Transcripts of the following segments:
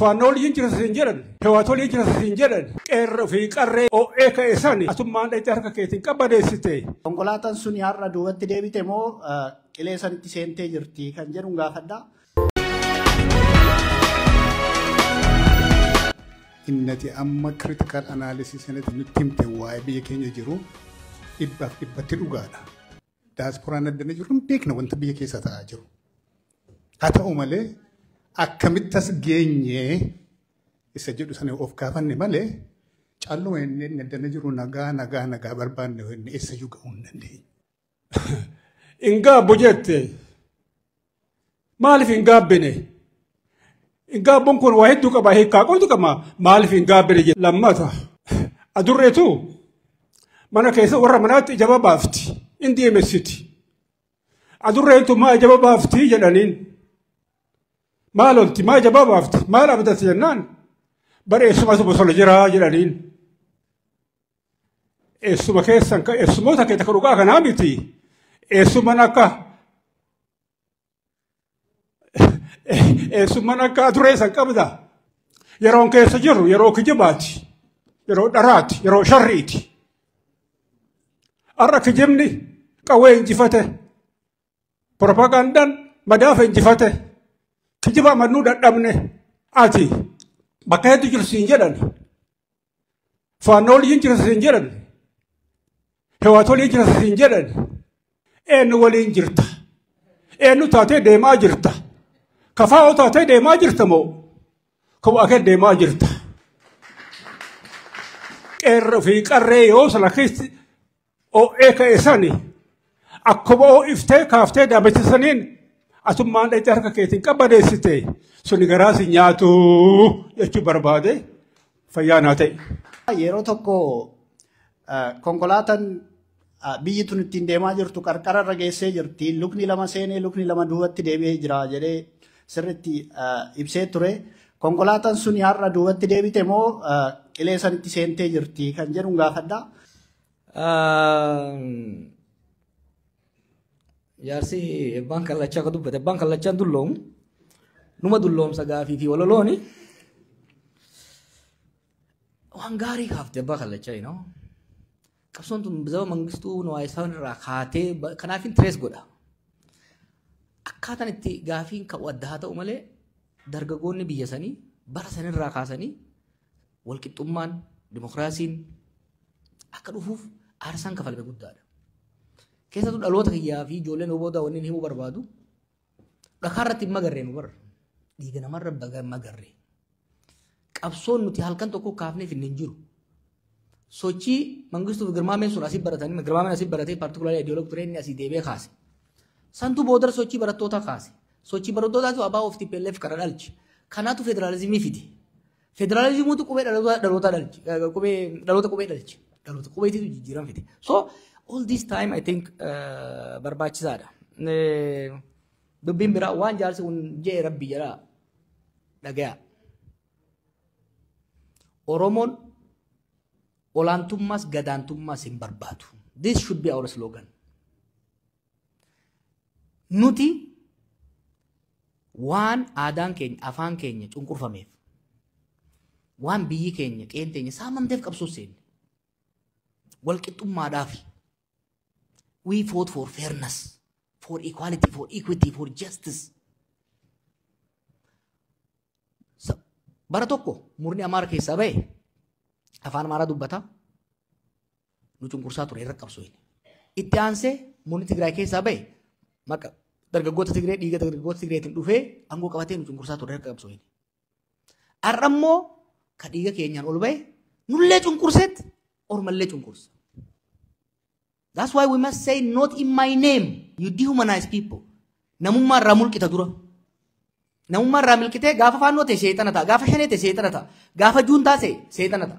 Faannoon hin jira siin jedhan, hewaatoon hin jira siin jedhan, qeerra fi qarree OA ka'e sani atummaan dhayxee harka keetiin qabbadeessite. Konkolaataan sun har'a duubatti deebite moo qilee sanitti seentee jirti kan jedhu gaafadha. Inni ati amma critical analysis sanatti nutti himte waa'ee biyya keenya jiru dhibbaaf dhibbatti dhugaadha. Daasporaan addana jiru hin beekna wanta biyya keessa ta'aa jiru. Haa ta'u malee akkamitti as geenyee isa jedhu sana of gaafanne malee calluma inni inni addana jiru nagaa nagaa nagaa barbaanne inni eessa iyyuu ga'uu hin dandeenye. hin gaabbu jette maaliif hin gaabbine hin gaabbuun kun waa hedduu qaba hiikaa qoltu qaba maaliif hin gaabbine jette lammata adurreetu mana keessa warra manaatti ijaba baafti hin deemessiti adurreentu maa ijaba baafti jedhaniin maal olti maa ijaba baafti maal abdatti jennaan bareessumatu bosona jiraa jedhaniin. Eessuma keessan ka- eessumoota keessa kan dhugaa kanaa miti. Eessumman akka eessumman akka aduree san qabda. Yeroon keessa jirru yeroo kijibaati. Yeroo dharaati. Yeroo sharriiti. Har'a kijibni qawwee injifate. Propagandaan madaafa injifate. Kijiba amannuu dadhabne. Ati bakka hedduu jirtu siin jedhan. Faannoo waliin jirta siin jedhan. Hewaat waliin jirta siin jedhan. Eenyu waliin jirta. Eenyu taatee deemaa jirta. Kafaa'oo taatee deemaa jirta moo? Kophaa kee deemaa jirta. Qeerroo fi qarree yoo sana keessi Oo'ee ka'e sani akkuma oo'iftee kaaftee daamicha saniin atummaan dhaqxee harka keetiin qabbaneessite suni garaa si nyaatu jechuu barbaade fayyaa naa ta'e. Yeroo tokko ah, konkolaataan ah, biyyi tun ittiin deemaa jirtu qarqara irra geessee jirti. Lukni lama seenee lukni lama duubatti deebi'ee jira jedhee sirriitti ah, ibsee ture. Konkolaataan sun har'a duubatti deebite moo ah, qilee sanitti seentee jirti kan jedhu gaafadha. Jaarsi ebbaan kallachaa akka dubbate ebbaan kallachaan dulloomu numa dulloomsa gaafii fi walalooni waan gaarii kaafte ebbaa kallachaa inoo qabsoon tun zaba mangistuu nuwaayisaan irraa kaatee kanaafin tirees godha akkaataan itti gaafiin ka'u adda haa ta'u malee dargagoonni biyya sanii bara sanirraa kaasanii walqixxummaan, dimokiraasiin akka dhufuuf aarsaan kafalame guddaadha. Keessattuu dhaloota kiyyaa fi ijoolleen oboodaa wanni himuu barbaadu dhakaa irratti hin magarree nu barra. Dhiiga namarra baga magarree. Qabsoon nuti halkan tokko kaafneef hin hin jiru. Sochii mangistuu fi girmaameen sun asii baratanii girmaameen asii baratee paartikulaarii ideoloog turee inni asii deebi'ee kaase. Santu booda sochii barattootaa kaase. Sochii barattootaatu abaa of TPLF kana dhalche. Kanaatu federaalizimii fide. Federaalizimiitu qubee dhalootaa dhalootaa dhalche. eh, Qubee dhaloota qubee dhalche. Dhaloota qubeetiitu jijjiirama fide. So all this time I think eh, barbaachisaadha. Eh, Dubbiin biraa waan jaarsi kun jee rabbi jedha dhagaya. Oromoon olaantummaas gadaantummaas hin barbaadu. This should be our slogan. Nuti waan aadaan keenya afaan keenya cunqurfameef waan biyyi keenya qeen teenya saamamteef qabsoo seenne wal qixxummaadhaaf we fought for fairness for equality for equity for justice Sa- bara tokko murni amaara keessaa ba'e afaan amaaraa dubbata nu cunqursaa ture irra qabsoo inni. Itti aansee murni Tigraay keessaa ba'e maqa dargaggoota Tigree dhiiga dargaggoota Tigreetiin dhufee aangoo qabatee nu cunqursaa ture irra qabsoo inni. Har'a immoo ka dhiiga keenyaan ol ba'e nullee cunqurseetti ormallee cunqursa. That's why we must say not in my name you dehumanize people. Namummaa irraa mulqita dura. Namummaa irraa milqitee gaafa faannoo ta'e seexana ta'a. Gaafa shanee ta'e seexana ta'a. Gaafa juun ta'a seexana ta'a.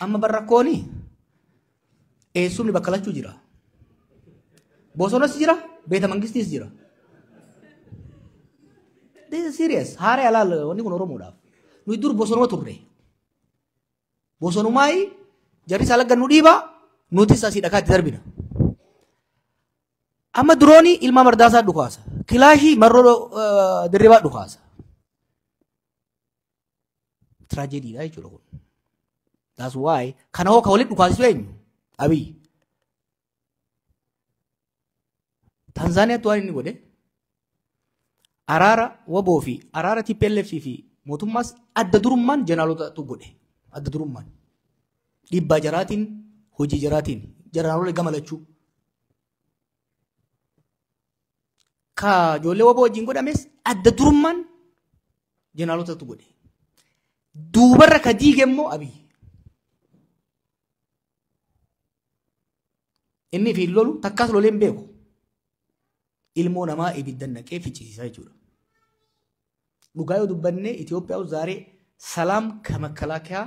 Amma bar rakkooni eessumni bakka lachuu jira. Bosonas jira, beeta mangistiis jira. This is serious. Haaree alaal wanni kun Oromoodhaaf. Nuyi dur bosonuma turre. Bosonumaayi jarri isaa laggan nu dhiiba nutis asii dhakaatti darbina. Amma diroonii ilmaa mardaasaa dhukaasa. Kilaashii marroo eh, dirribaa dhukaasa. Tragedy dha jechuudha kun. That's why kana hoo ka walitti dhukaasisu eenyu? Abiy. Tanzaaniyaatti waan inni godhe araara waboo fi araara TPLF fi mootummaas adda durummaan jeneraalotaatu godhe. Adda durummaan. Dhiibbaa jaraatiin hojii jaraatiin jeneraalolee gama lachuu. ka ijoollee waboo wajjin godhames adda durummaan jeneraalootatu godhe. Duubarra ka diige immoo abiyyi. Inni fi lolu takkaas lolee hin beeku. Ilmoo namaa ibidda naqee ficcisiisaa jechuudha. Dhugaa yoo dubbannee Itoophiyaa zaaree salaam ka makalaakiyaa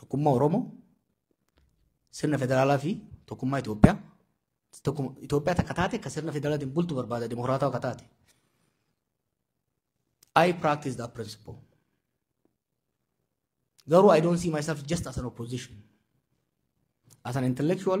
tokkummaa Oromoo sirna federaalaa fi tokkummaa Itoophiyaa tokkuma Itoophiyaa takka taate akka sirna federaalaatiin bultu barbaada dimokiraataa akka taate. I practice that principle. Garuu I don't see myself just as an opposition. As an intellectual,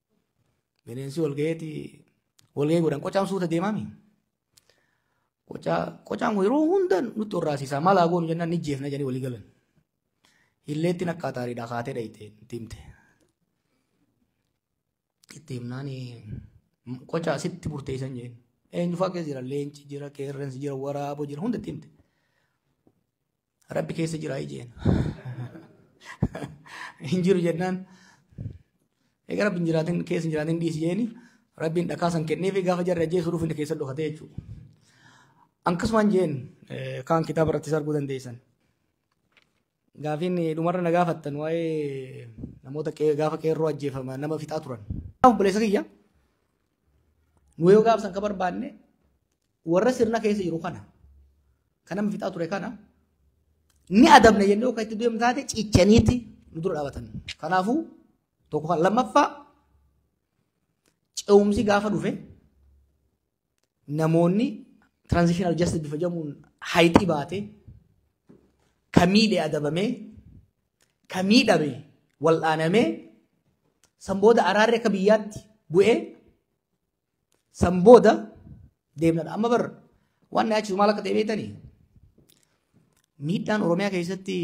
Bineensi walgaheeti walgahee godhan qocaan suuta deemaami. Qocaan kun yeroo hunda nutti horraasisaa maal haa goonu jennaan ni jeefna jedhanii walii galan. Hilleetti naqqaa taariidhaa kaatee dhayite itti himte. Itti himnaan qocaa sitti murteessan jeen. Eenyu fakkee jira leenci jira qeerransi jira waraaboo jira hunda itti himte. Rabbi keessa jiraa ijeen. Hin jiru jennaan. Egaa rabbi hin jiraatin keessa hin jiraatin dhiisi jeeni rabbiin dhakaa san kennee fi gaafa jarri ajjeesuu dhufu inni keessa dhokatee jechuudha. Akkasumaan jeen kaan kitaaba irratti arguu dandeessan. Gaafiin dhumarra na gaafattan waa'ee namoota gaafa qeerroo ajjeefama nama fixaa turan. Obboleessa kiyya nu yoo gaafsan ka barbaanne Warra sirna keessa jiru kana kan nama fixaa ture kana ni adabna jennee akka itti deemu taate cichaniiti nu dura dhaabatan. Kanaafuu tokko kan lammaffaa ce'umsi gaafa dhufe namoonni transitional justice bifa jedhamuun hayitii baate ka miidhe adabamee ka miidhame wal'aanamee san booda araarri akka biyyaatti bu'ee San booda deemnadha. Amma bar waan na yaachisu maal akka ta'e beektanii? Miidhaan Oromiyaa keessatti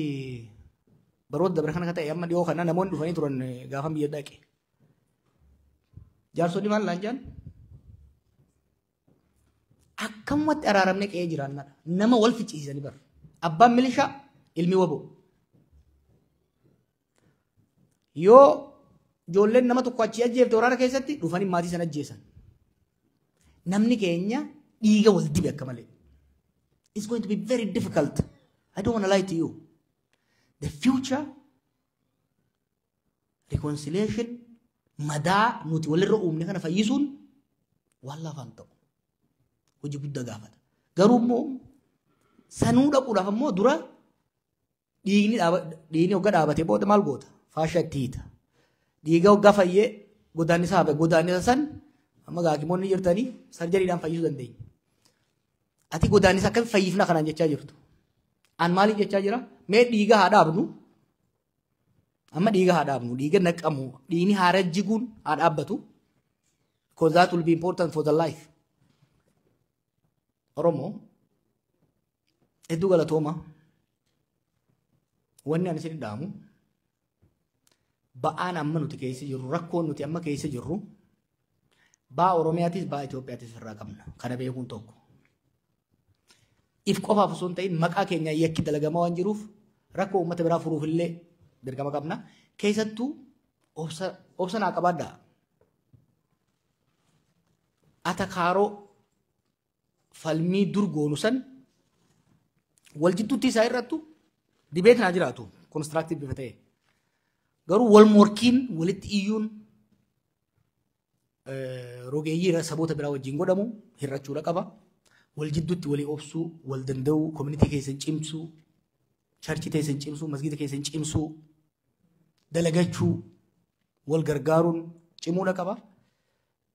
baroota dabre kana akka ta'e amma dhiyoo kana namoonni dhufanii turan gaafan biyya dhaqe. Jaarsonni maal laan jaan? Akkamumatti araaramne qe'ee jiraannadha. Nama wal ficciisanii bar. Abbaan milishaa ilmi waboo. Yoo ijoolleen nama tokko achii ajjeefte waraana keessatti dhufanii maatii sana ajjeesan. Namni keenya dhiiga wal dibe akka malee. It's going to be very difficult. I don't want to lie to you. The future reconciliation madaa nuti walirra uumne kana fayyisuun waan lafaan ta'u hojii guddaa gaafata. Garuu immoo sanuu dhaquudhaaf immoo dura dhiigni dhiigni hogga dhaabate booda maal goota faasha itti hiita dhiiga hogga fayyee godaannisa hafe godaannisa san amma gaakimoonni jirtanii sarjariidhaan fayyisuu dandeenya. Ati godaannisa akkamitti fayyifna kanaan jechaa jirtu. An maaliif jechaa jira mee dhiiga haa dhaabnu amma dhiiga haa dhaabnu dhiiga naqamu dhiigni haa rajjiguun haa dhaabbatu because that will be important for the life. Oromoo Hedduu galatooma. Wanni ani isin dhaamu ba'aan amma nuti keessa jirru rakkoon nuti amma keessa jirru baa Oromiyaatis baa Itoophiyaatis irraa qabna. Kana beekuun tokko. If qofaaf osoo hin ta'in maqaa keenya yakki dalagamaa waan jiruuf rakkoo uummata biraa furuuf illee dirqama qabna. Keessattuu obsa obsa naa qabaadhaa. Atakaaroo falmii dur goonu san wal jidduutti isaa irrattu dibeetiin haa jiraatu konistiraaktiiv bifa ta'e. Garuu wal morkiin walitti iyyuun rogeeyyii irra saboota biraa wajjin godhamu hir'achuudha qaba. Wal jidduutti walii obsuu, wal danda'uu, koominitii keessan cimsuu, charchii keessan cimsuu, masgiida keessan cimsuu, dalagachuu, wal gargaaruun cimuudha qaba.